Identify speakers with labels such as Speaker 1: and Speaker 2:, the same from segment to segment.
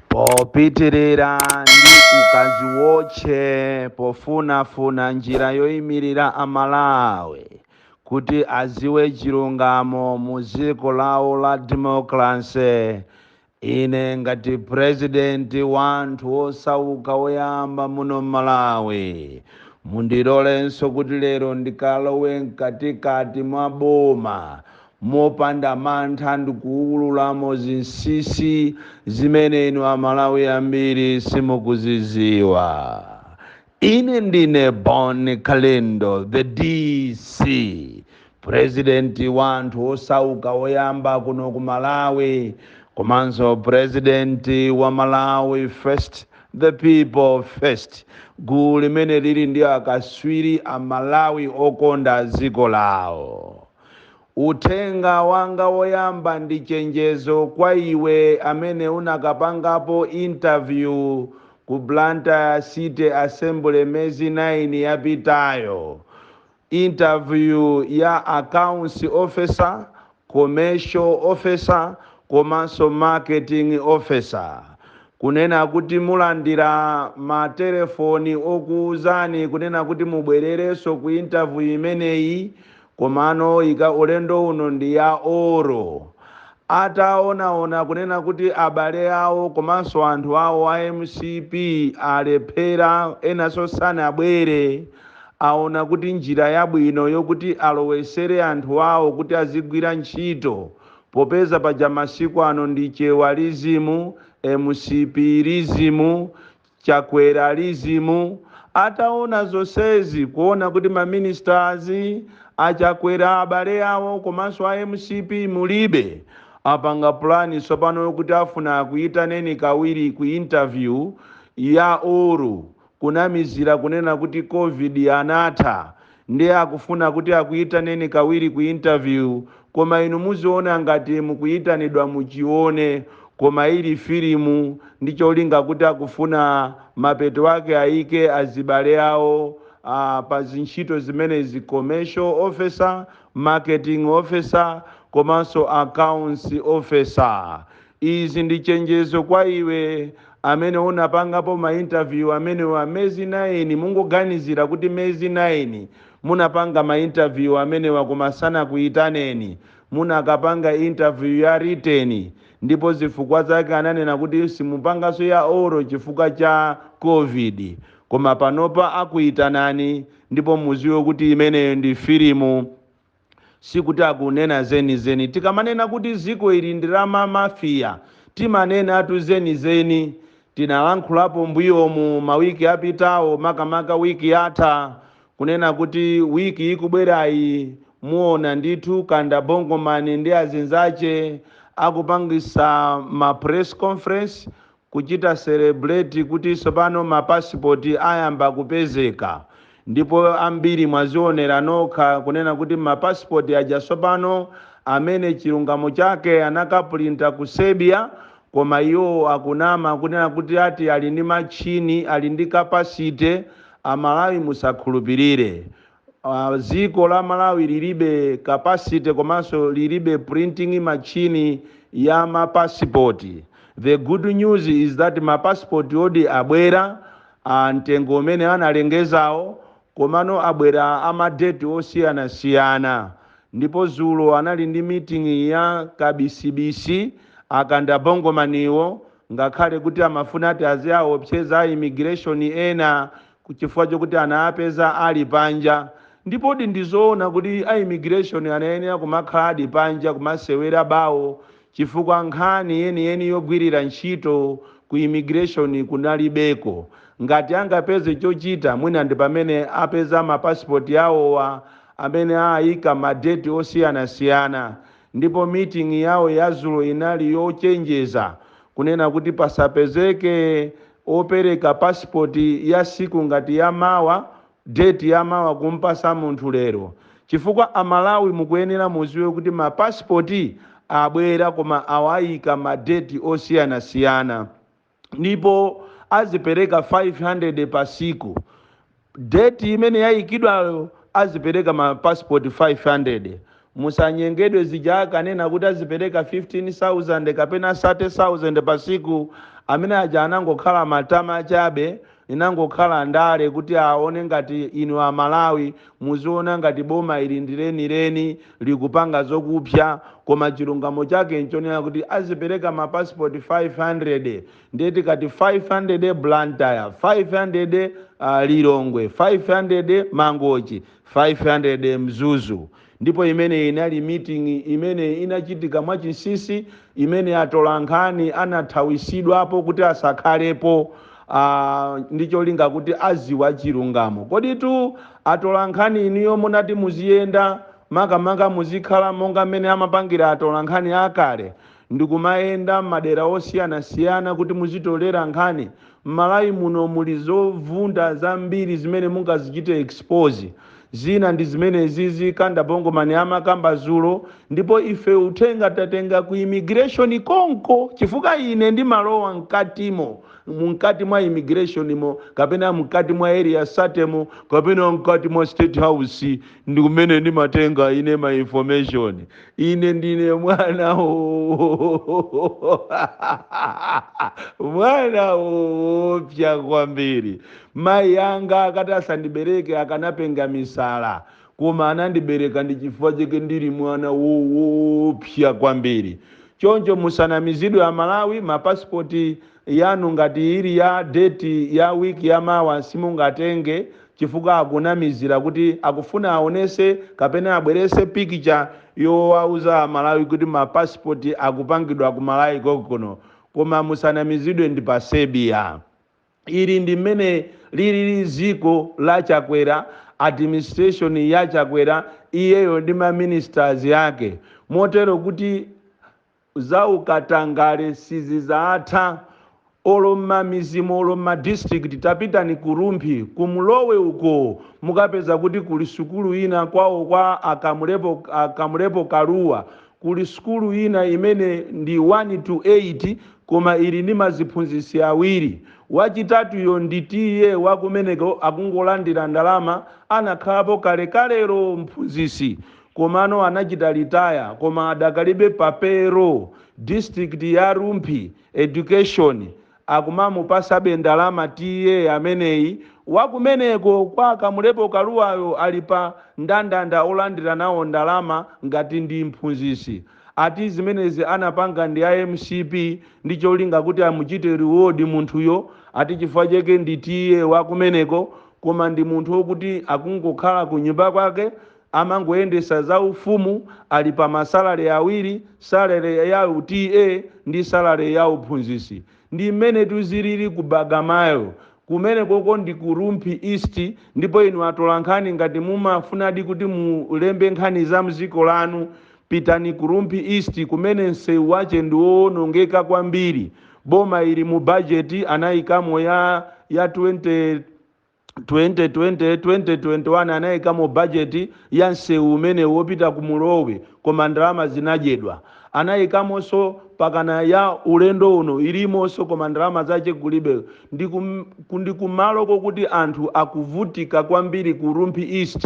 Speaker 1: popitirira ndi ukadziwotche pofunafuna njira yoimirira amalawi kuti aziwe chilungamo mu dziko lawo la democracy ine ngati president wa anthu osauka woyamba muno m'malawi mundilolenso kuti lero ndikalowe mkatikati mwa boma mopanda mantha ndikuwululamo zinsisi zimene inu amalawi ambiri simukuziziwa. Ine ndine Bon Kalindo the DC president wa anthu osauka woyamba kuno ku Malawi komanso president wa Malawi first the people first gulu limene lili ndi akaswiri a Malawi okonda dziko lawo. Uthenga wanga woyamba ndi chenjezo kwa iwe amene unakapangapo interview ku Blantyre City Assembly mezi 9 yapitayo, interview ya Accounts Officer, Commercial Officer komanso Marketing Officer, kunena kuti mulandira matelefoni okuuzani kunena kuti mubwererenso ku interview imeneyi, Komano ika ulendo uno ndi ya oral. Ataonaona kunena kuti abale awo komanso anthu awo a mcp alephera enanso sanabwere, aona kuti njira yabwino yokuti alowesere anthu awo kuti azigwira ntchito popeza paja masiku ano ndi Chewa-lism, mcp-lism, Chakwera-lism ataona zonsezi kuona kuti ma ministers a Chakwera abale awo komanso a mcp mulibe apanga plan tsopano yokuti afuna akuitaneni kawiri ku interview ya oral kunamizira kunena kuti covid inatha Ndiye akufuna kuti akuyitaneni kawiri ku interview koma inu muziona ngati mukuyitanidwa muchione koma ili filimu ndi cholinga kuti akufuna mapeto ake ayike azibale awo aah pa zintchito zimenezi commercial officer, marketing officer komanso accounts officer. Izi ndi chenjezo kwa iwe amene unapangapo ma interview amenewa mezi 9 mungoganizira kuti mezi 9 munapanga ma interview amenewa koma sanakuitaneni munakapanga interview ya written ndipo zifukwa zake ananena kuti simupangaso ya oral chifukwa cha covid koma panopa akuitanani ndipo muziwe kuti imeneyo ndi filimu sikuti akunena zenizeni. Tikamanena kuti dziko ili ndi la ma Mafia, timanenatu zenizeni. Tinalankhulapo mbuyomu mawiki apitawo makamaka week yatha kunena kuti week ikubwerayi muona ndithu Kanda Bongo man ndi azinzache akupangisa ma press conference kuchita celebrate kuti tsopano ma passport ayamba kupezeka ndipo ambiri mwazionera nokha kunena kuti ma passport aja tsopano amene chilungamo chake anakapulinta ku Serbia koma iwo akunama kunena kuti ati ali ndi matchini ali ndi capacity a Malawi musakhulupilire uh, dziko la Malawi lilibe capacity komanso lilibe printing machine ya mapasipoti the good news is that mapasipoti odi abwera a mtengo umene analengezawo komano abwera amadeti osiyanasiyana ndipo zulo anali ndi meeting ya kabisibisi a Kanda Bongomaniwo ngakhale kuti amafuna ati aziwaopseza a immigration ena Chifukwa chokuti anawapeza ali panja. Ndipodi ndi zoona kuti a immigration anayenera kumakhaladi panja kumasewera bawo chifukwa nkhani yeniyeni yogwirira ntchito ku immigration kunalibeko. Ngati angapeze chochita mwina ndi pamene apeza ma passport awowa amene aika ma date osiyanasiyana ndipo meeting yawo yazulo inali yochenjeza kunena kuti pasapezeke opereka passport ya siku ngati ya mawa date ya mawa kumpasa munthu lero chifukwa a Malawi mukuyenera muziwe kuti ma passport abwera koma awaika ma date osiyana siyana ndipo azipereka 500 pa siku Date imene yaikidwayo azipereka ma passport 500. Musanyengedwe zija akanena kuti azipereka 15,000 kapena 30,000 pa siku amene aja anangokhala matama chabe inangokhala ndale kuti aone ngati inu a Malawi muziona ngati boma ili ndi lenileni likupanga zokupsa koma chilungamo chake nchonena kuti azipereka ma passport 500. ndiye tikati 500 Blantyre, 500 Lilongwe, 500 Mangochi, 500 Mzuzu ndipo imeneyi inali meeting imene inachitika mwachinsisi imene atolankhani anathawisidwapo kuti asakhalepo ndi cholinga kuti aziwa chilungamo koditu atolankhani inuyo munati muziyenda makamaka muzikhala monga mmene amapangira atolankhani akale ndikumayenda mmadera osiyanasiyana kuti muzitolera nkhani, mmalawi muno muli zovunda zambiri zimene mungazichite expose, zina ndi zimenezizi Kanda Bongo Man amakamba zulo, ndipo ife uthenga tatenga ku immigration konko chifukwa ine ndimalowa mkatimo, mkati mwa immigration mo kapena mkati mwa area 30 mo kapena mkati mwa state house ndi kumene ndimatenga ine ma information. ine ndine mwana mwana woopsa kwambiri mayi anga akati asandibereke akanapenga misala koma anandibereka ndi chifukwa chake ndili mwana woopsa kwambiri choncho musanamizidwe aMalawi mapasipoti yanu ngati ili ya date ya week ya mawa simungatenge chifukwa akunamizira kuti akufuna aonese kapena abwerese picture yowauza aMalawi kuti ma passport akupangidwa ku Malawi konkuno koma musanamizidwe ndi pa Serbia ili ndi mmene lilili ziko la Chakwera administration ya Chakwera iyeyo ndi ma ministers ake motero kuti zaukatangale sizizatha olo mmamizimu olo mma district tapitani ku Rumphi ku Mlowe uko mukapeza kuti kuli sukulu ina kwawo kwa a Kamulepo Kaluwa kuli sukulu ina imene ndi 1 to 8 koma ili ndi maziphunzisi awiri wachitatuyo ndi TA wakumeneko akungolandira ndalama anakhalapo kalekalelo mphunzisi komano anachita retire koma adakalibe pa payroll district ya Rumphi education akumamupasabe ndalama TA ameneyi wakumeneko kwa Kamulepo Kaluwayo ali pa ndandanda olandira nawo ndalama ngati ndi mphunzisi ati zimenezi anapanga ndi a MCP ndi cholinga kuti amuchite reward munthuyo ati chifukwa chake ndi TA wakumeneko koma ndi munthu wokuti akungokhala kunyumba kwake Amangoyendesa za ufumu ali pa ma salary awiri salary ya u TA ndi salary ya uphunzisi. Ndi mmenetu zilili ku Bagamoyo. Kumeneko ko ndi ku Rumphi East ndipo inu atolankhani ngati mumafunadi kuti mulembe nkhani za mziko lanu pitani ku Rumphi East kumene mseu wache ndi woonongeka kwambiri. Boma ili mu budget anaikamo ya ya 2025. 2020 2021 anayikamo budget ya nsewu umene wopita ku Mlowe koma ndalama zinadyedwa. anayikamonso pakana ya ulendo uno ilimonso koma ndalama zache kulibe. ndi kumalo kokuti anthu akuvutika kwambiri ku Rumphi East.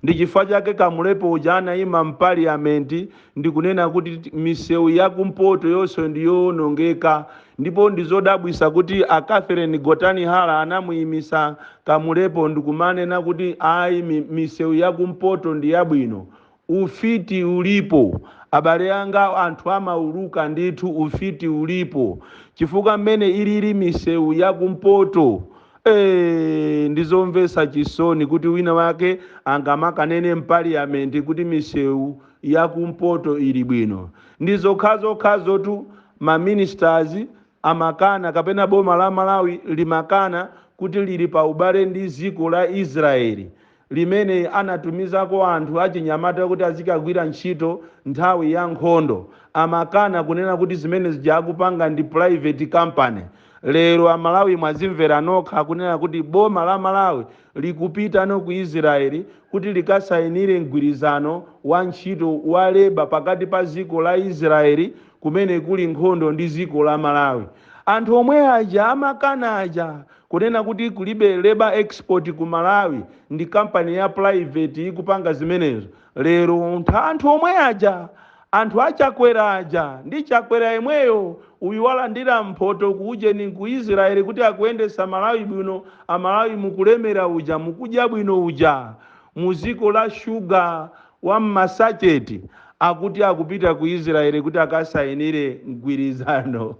Speaker 1: Ndi chifukwa chake Kamulepo uja anaima m'Parliament ndikunena kuti misewu ya kumpoto yonse ndi yoonongeka ndipo ndi zodabwisa kuti a Catherine Gotani Hara anamuimisa Kamulepo ndikumanena kuti ayi misewu ya kumpoto ndi yabwino. Ufiti ulipo abale anga anthu amauluka ndithu ufiti ulipo chifukwa mmene ilili misewu ya kumpoto Eee, ndi zomvetsa chisoni kuti wina wake angamakanene m'paliyamenti kuti misewu ya kumpoto ili bwino. Ndi zokhazokhazotu ma ministers amakana kapena boma la Malawi limakana kuti lili pa ubale ndi dziko la Israel. limene anatumizako anthu achinyamata kuti azikagwira ntchito nthawi ya nkhondo, amakana kunena kuti zimene zija akupanga ndi private company. Lero a Malawi mwazimvera nokha kunena kuti boma la Malawi likupitano ku Israel kuti likasainire mgwirizano wa ntchito wa labour pakati pa dziko la Israel kumene kuli nkhondo ndi dziko la Malawi. Anthu omwe aja amakana aja. Kunena kuti kulibe labour export ku Malawi ndi company ya private ikupanga zimenezo. Lero ntha anthu omwe aja anthu a Chakwera aja ndi Chakwera yemweyo uyu walandira mphoto ku ujeni ku Israel kuti akuyendetsa Malawi bwino a Malawi mukulemera uja mukudya bwino uja mu dziko la sugar wa m'masacheti akuti akupita ku Israel kuti akasainire mgwirizano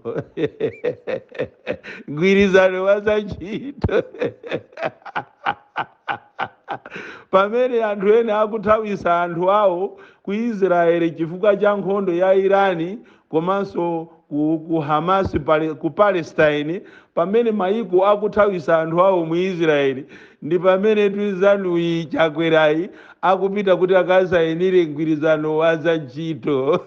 Speaker 1: mgwirizano wa za ntchito pamene anthu ena akuthawisa anthu awo ku Israel chifukwa cha nkhondo ya Irani komanso ku, ku Hamas pale, ku Palestine pamene mayiko akuthawisa anthu awo mu Israeli ndi pamene tunzanuyi chakwerayi akupita kuti akasayinire mgwirizano wa za ntchito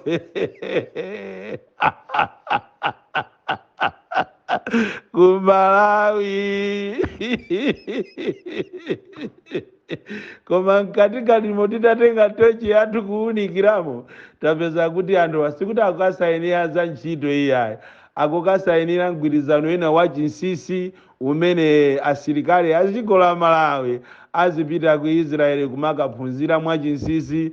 Speaker 1: ku Malawi koma mkatikatimo titatenga tochi yathu kuwunikiramo tapeza kuti anthuwa sikuti akukasainira za ntchito iyayi akukasainira mgwirizano wina wa chinsisi umene asilikali a dziko la malawi azipita ku israeli kumakaphunzira mwa chinsisi